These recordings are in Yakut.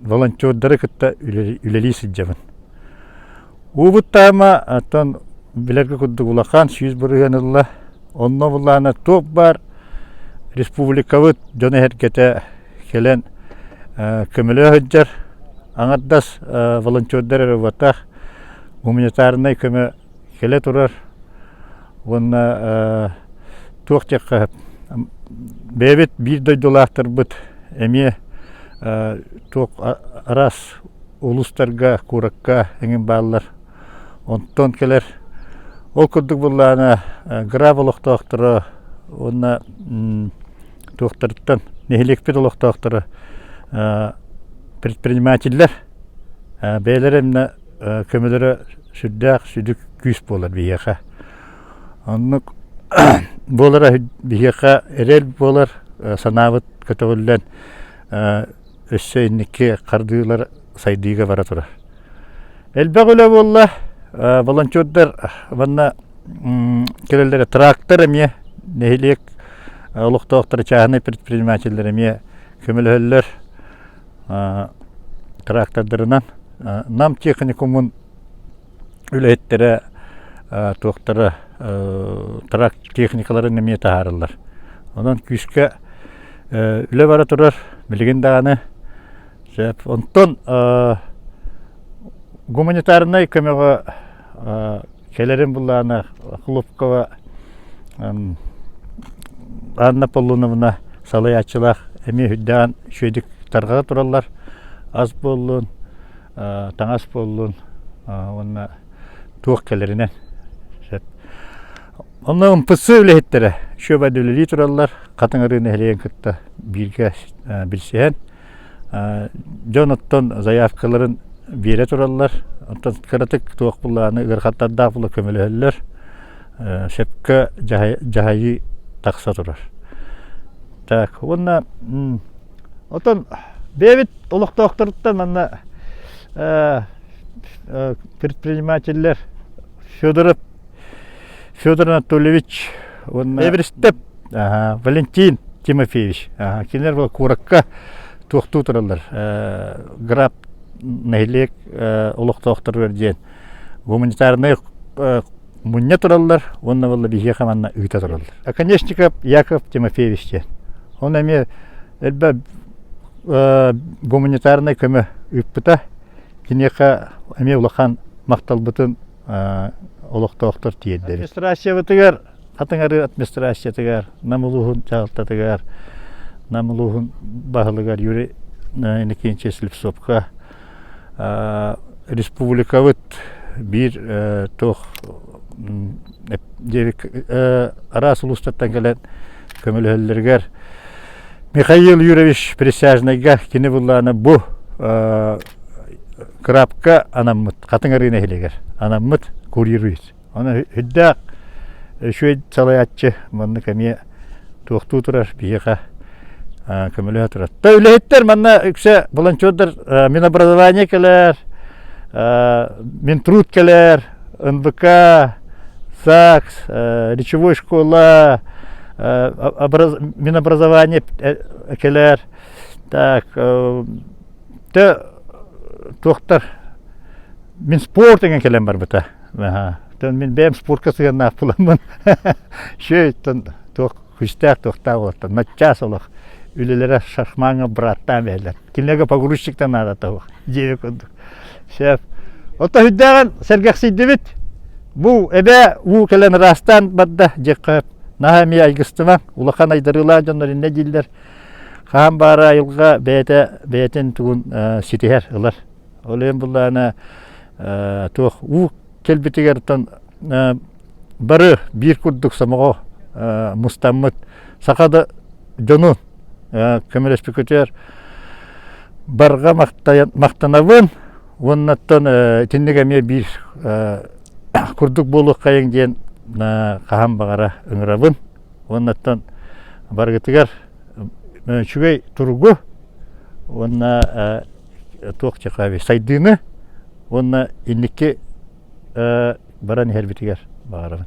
волонтердары кытта үлэлии сылдьабын. Уубуттаама, оттон билэргэ курдук улахан сүүс бырыһыан ылла. Онно булаана туох баар республикабыт дьон эһэргэтэ кэлэн көмөлө сылдьар. Аҥардас волонтердар эрэ убатах, гуманитарнай көмө кэлэ турар уонна туох диэххэ бэйэбит биир дойдулаахтарбыт эмиэ туох араас улуустарга куоракка эҥин бааллар онтон кэлэр ол курдук буоллаҕына грав олохтоохторо уонна туохтарыттан нэһилиэкпит олохтоохторо предпринимателлэр Бэйэлэрэ эмиэ көмөлөрө сүрдээх сүдү күүс буолар биһиэхэ. Оннук буолара биһиэхэ эрэл буолар, санаабыт көтөҕүллэн өссө инники хардыылар сайдыыга бара турар. Элбэх үлэ буолла, волонтердар уонна кэлэллэрэ трактор эмиэ нэһилиэк олохтоохторо, чааһынай предпринимателлэр эмиэ көмөлөһөллөр. Трактордарынан Нам техникумун үлэһиттэрэ туохтара трак техникаларын эмиэ таһаарыллар. Онон күүскэ үлэ бара турар билигин даҕаны сөп. Онтон гуманитарнай көмөҕө Кэлэрим былаана Хлопкова Анна Полуновна салайааччылаах эмиэ үрдэҕин үчүгэйдик тарҕата тураллар. Ас буоллун, таҥас буоллун уонна туох кэлэринэн. Онно ымпыссы үлэһиттэрэ шөбөдүлэлии тураллар. Хатыҥ Арыы нэһилиэгин кытта бииргэ билсиһэн Дьон оттон заявкаларын биэрэ тураллар, оттон кыратык туох былааны ыарахаттардаах була көмөлөһөллөр, сөпкө дьаһайыы тахса турар. Так, уонна оттон бэйэбит олохтоохторуттан манна предпринимателлэр Федоров Федор Анатольевич уонна Эверстеп ага, Валентин Тимофеевич ага, кинилэр была куоракка туохтуу тураллар граб нэһилиэк олохтоохторугар диэн гуманитарнай муння тураллар уонна болла биһиэхэ манна ыыта тураллар оконешников яков тимофеевич диэн он эмиэ элбэ гуманитарнай көмө ыыппыта киниэхэ эмиэ улахан махталбытын олохтоохтор тиэрдэр. Администрациябытыгар атыҥары администрациятыгар Нам улууһун дьаһалтатыгар Нам улууһун баһылыгар Юрий Иннокентьевич Слепцовка республикабыт биир туох диэри араас улуустартан кэлэн көмөлөһөллөрүгэр Михаил Юрьевич Присяжныйга кини буллаана бу Крапка анаммыт Хатыҥарыы нэһилиэгэр анаммыт курьеруец. Аны үрдээх үчүгэй салайааччы маннык эмиэ туохтуу турар биһиэхэ көмөлөһө турар. То үлэһиттэр манна үксэ волонтердар Минобразование кэлэр, Минтруд кэлэр, НВК, САКС, речевой школа, Минобразование кэлэр. Так, Дэ туохтар мин спорт эҥин кэлэн барбыта. Тэн мин бэйэм спортка сыһыаннаах буламмын шөйтөн туох күстээх туохтаах уоттан наччаас олох үлэлэрэ шашмаҥа быраттаан бэһэлэр. Кинилэргэ погрузчиктан наада того. Дьиэ курдук. Шеф. Отто хүддээҕин сэргэхсийдибит. Бу эбэ уу кэлэн ыраастаан барда дьеккөп. Наһаа эмиэ айгыстымаҥ. Улахан айдарыылаах дьоннор иннэ дииллэр. Хаан баара айылҕа бэйэтэ бэйэтин тугун ситиһэр, ылар. Ол иһин буллаана туох уу кэлбитигэртэн бары биир курдук сомоҕо мустаммыт саха да дьонун көмөлөспүкүтүгэр барга махтанабын уоннаттан итинник эмиэ биир курдук буолуоххайыҥ диэн хаһан баҕара ыҥырабын уоннаттан барыгытыгар үчүгэй туругу уонна туох сайдыыны уонна инники баран иһэрбитигэр баҕарабын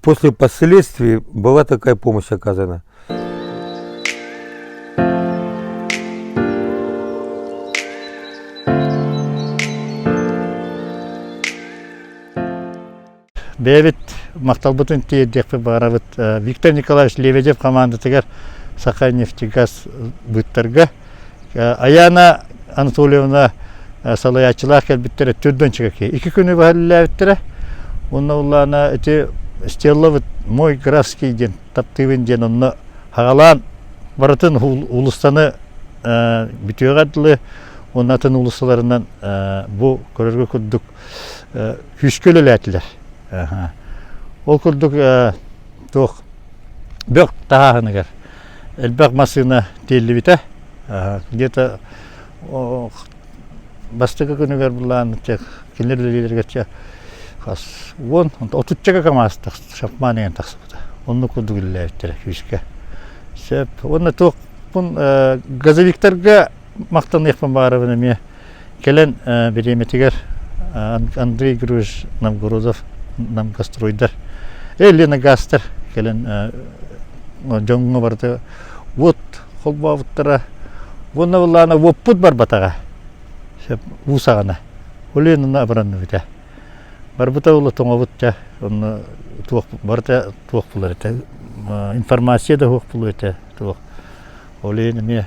После последствий была такая помощь оказана. бэйэбит махталбытын тиэрдиэхпит баарабыт Виктор Николаевич Лебедев хамаандатыгар Саха нефтегаз быттарга Аяна Анатольевна салайааччылаах кэлбиттэрэ түрдөнчүгэ Iki күнү баһаллаабыттара. Онна уллаана эти стеллабыт мой графский диэн таптыыбын диэн онно хагалаан барытын улустаны бүтүөҕэ дылы онно атын улусталарынан бу көрөргө курдук күүскэ үлэлээтилэр. Ол курдук туох бөх таһааһыныгар элбэх массыына тиэллибитэ где-то бастакы күнүгэр былаан кинилэр үлэлиилэргэрчэ хас уон отуччага камаз шапман иһэн тахсыбыта оннук курдук үлэлээбиттэрэ фишка сөп уонна туохпун газовиктарга махтаныахпын баҕарабын эмиэ кэлэн бириэмэтигэр Андрей Григорьевич Новгородов Намгастройдар Елена Гастер кэлэн дьоҥҥо барыта уот холбообуттара уонна былаана уоппут барбатаҕа уу саҕана Оленина абыранныбыта барбыта ол тоҥобут ча онно туох барыта туох булар этэ информация да суох булуо этэ туох олен эмиэ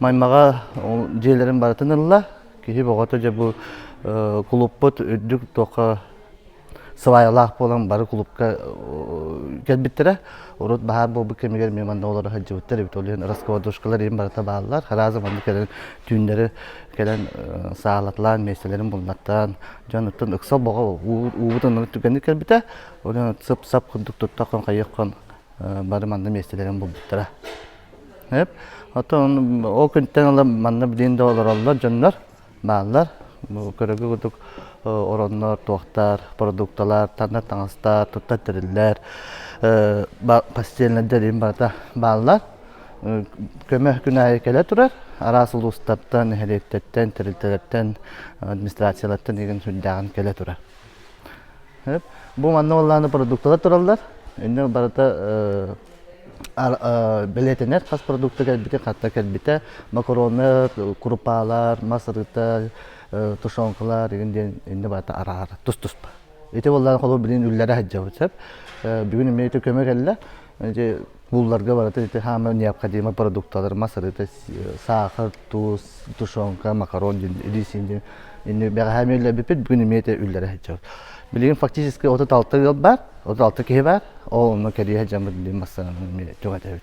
Маймаҕа дьиэлэрин барытын ылла. Киһи бөҕөтө дьэ бу кулуппут үрдүк туохха сылайалаах буолан бары кулупка кэлбиттэрэ. Урут баһаар буолбут кэмигэр эмиэ манна олоро сылдьыбыттар эбит. Ол иһин раскладушкалар иһин барыта бааллар. Разом манна кэлэн түүннэри кэлэн саалаталаан, миэстэлэрин булнаттаан, дьонуттан ыкса бөҕө уубут ынырык түгэнник кэлбитэ. Ол иһин сып-сап курдук туттах хон хайыах хон бары манна миэстэлэрин булбуттара. Эп, оттон ол күнтэн ыла манна билин да олороллор дьоннор, бааллар. Көрөгү кутук ороннор, туохтар, продукталар, танна таҥастар, туттар тэриллэр, постельнайдар иһин барыта бааллар. Көмө күн аайы кэлэ турар. Араас улуустартан, нэһилиэктэртэн, тэрилтэлэртэн, администрациялартан игин сүрдээҕин кэлэ турар. Бу манна уоллааны продукталар тураллар. Инна барыта бэлиэтэнэр хас продукта кэлбитэ, хатта кэлбитэ. Макароны, курупаалар, мас ырыта, тушенкалар игин диэн инна барыта араара тус-туспа. Ити уоллаан холу билин үллэрэ сылдьабыт сөп. Бүгүн эмиэ ити көмө кэллэ. Булларга барыта ити хаама необходимо продукталар мас арыта сахар, туз, тушенка, макарон илиис инди инди бэҕэһээми үллэбиппит бүгүн имиэте үллэрэ сылдьар. Билигин фактически отут алта ыал бар, отут алта киһи бар, ол онно кэрие сылдьаммыт билим массаанын түҥэтэбит.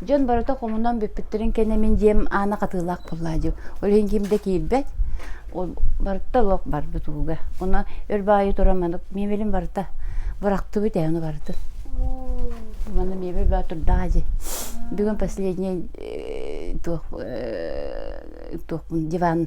Дьон барыта хомунан бүппүттэрин кэнэ мин дьиэм аана хатыылаах буоллаа дии. Ол иһин ким да киирбэт. Ол барыта лоох барбыт ууга. Уна өр баайы туран маны миэбэлин барыта бырахтыбыт ээ ону барытын. Маны миэбэл баатурдаа дии. Бүгүн последний э, туох э, туохпун диван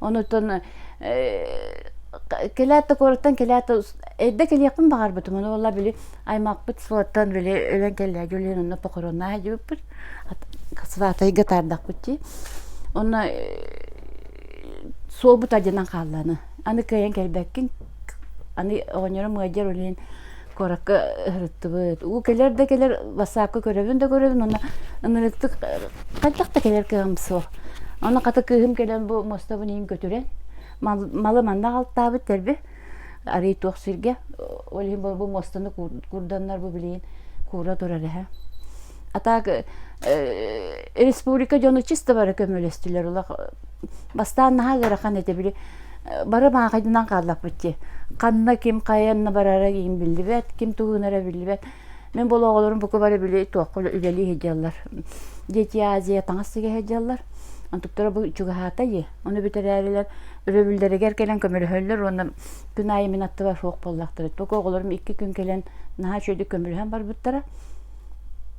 Онутан кэлээт да куораттан кэлээт да эрдэ кэлиэхпин баҕарбытым. Ону буолла били аймахпыт сылаттан били өлөн кэллээги өлүөн онно похороннааһа диэбиппит. Сватайга таардахпыт дии. Онно суолбут ардьанан хааллааны. Аны кыайан кэлбэккин Аны оҕонньорум ыалдьар үлэһин куоракка ыһырыттыбыт. Уу кэлэр да кэлэр бассаапка көрөбүн да көрөбүн уонна ынырыктык хайдах да кэлэр кыаҕым суох. Онно хата кыыһым кэлэн бу муостабын иһин көтүрэн малы манна аҕалтаабыт тэрбэ арыый туох сиргэ ол иһин бу муостаны куурданнар бу билигин куура турар эһэ А так республика дьоно чисто бары көмөлөстүлөр улах бастаан наһаа ыарахан этэ били бары маахайдынан хааллаппыт ханна ким хайанна барара иин биллибэт ким туһуунара биллибэт мин болооҕолорум бука бары били туохха үлэлии сылдьаллар дети азия таҥас сигэ сылдьаллар онтуктара бу чугаһаатай ону бүтэрээрилэр өрөбүллэригэр кэлэн көмөлөһөллөр уонна күн аайы мин аттыбар суох буоллахтара тока оҕолорум икки күн кэлэн наһаа үчүгэйдик көмөлөһөн барбыттара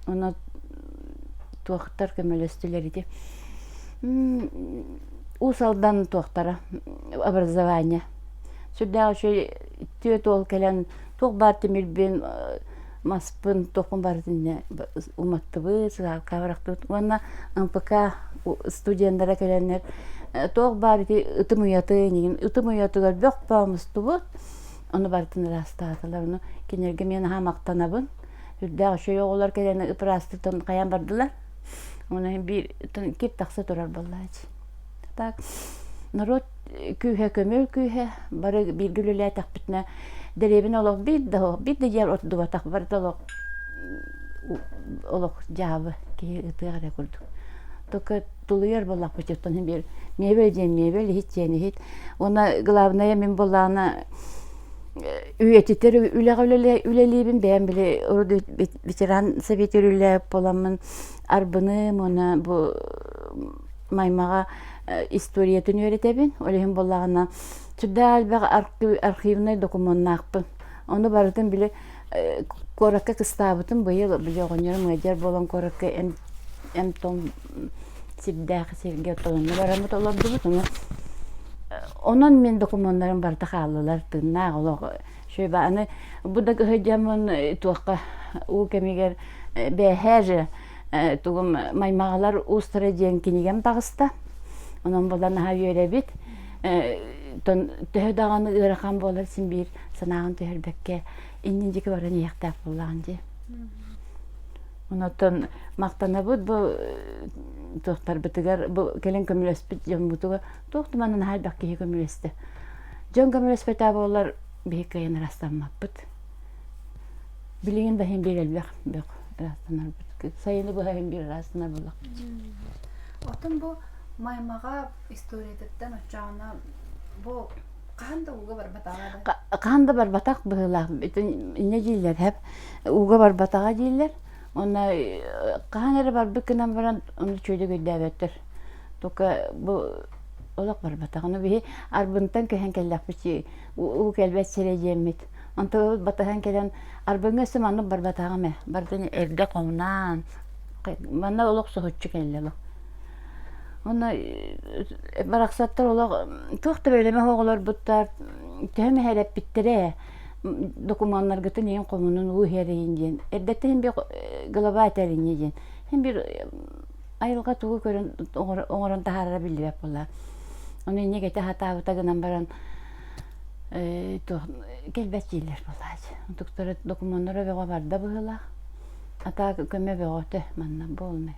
Ону туохтар көмөлөстүлэр ити Уус Алдан туохтара образование сүрдээх үчүгэй түөрт уол кэлэн туох баар тимирбин маспын туохпун барытын инньэ уматтыбыт сыһаалка бырахпыт уонна МПК студеннара кэлэннэр туох баар ити ытым уйаты инигин ытым уйатыгар бөх бөҕө мустубут ону барытын ыраастаатылар ону кинилэргэ мен наһаа махтанабын Үрдээх үчүгэй оҕолор кэлэни ыпыраастыттан хайан бардылар. Ону иһин биир кип тахса турар буоллаачы. Так норуот күүһэ көмөл күүһэ бары бииргэ үлэлээтэхпитинэ дэриэбинэ олох биир да биир да дьиэ ордубатах барыта олох олох дьаабы киһи ытыах эрэ курдук. Только тулуйар буоллахпыт оттон иһин биир мебель диэн мебель иһит диэн иһит уонна главное мин буоллаҕына үйэтитэр үлэҕэ үлэлиибин бэйэм били ветеран советигэр үлэлээбит буоламмын арбыным уонна бу маймаҕа историятын үөрэтэбин ол иһин буоллаҕына сүрдээх элбэх архивнай докумуоннаахпын ону барытын били куоракка кыстаабытым быйыл били оҕонньорум ыалдьар буолан куоракка эн том сирдээх сиргэ тойонно бараммыт олордубут ону онон мин докумуоннарым барыта хааллылар тыыннаах олох шөбө аны бу да кыһы дьэммин туохха уу кэмигэр бэһэр тугум маймагалар устара диэн кинигем тагыста онон булан аха үөрэбит тон төһө даҕаны ыарахан буолар син биир санааҕын түһэрбэккэ иннин диэки баран иһиэхтээх буоллаҕын дии Онотон мақтанабыт бу туохтарбытыгар бу кэлин көмөлөспүт дьоммутугар туох да манна наһайбах киһи көмөлөстө. Дьон көмөлөспөтө буоллар биһик кыайан ырастаммаппыт. Билигин да иһин биэрэлбэх бөх ыраастанарбыт. Сайыны быһа иһин биир ыраастанабыллах. Отон бу маймаҕа историятыттан оччоҕуна бу хаһан да ууга барбатаҕа да хаһан да барбатах быһыылаах инньэ дииллэр һэп ууга барбатаҕа дииллэр онно хаһан эрэ барбыт гынан баран ону чүөдүгөйдөөбөттөр только бу олох барбатах ону биһи арбынтан көһөн кэллэхпит уу кэлбэт сирэ диэммит онто батыһан кэлэн арбыҥа өссө маннык барбатаҕым ээ бардын эргэ хомунаан манна олох соһуччу кэллэ олох Онно барахсаттар олох туох да бэлэмэх оҕолорбуттар төһө мэһэлэппиттэрэ докумуоннаргытын ийин хомунун уу иһэрийин диэн эрдэттэн һин бир глава этэриньи диэн һин бир айылҕа тугу көрөн оҥорон таһаарара биллибэт буолла ону инньэ кэтэ сатаабыта гынан баран кэлбэт дииллэр буоллаачы онтуктара докумуоннара бөҕө барда быһыылаах а так көмө бөҕөтө манна буолунай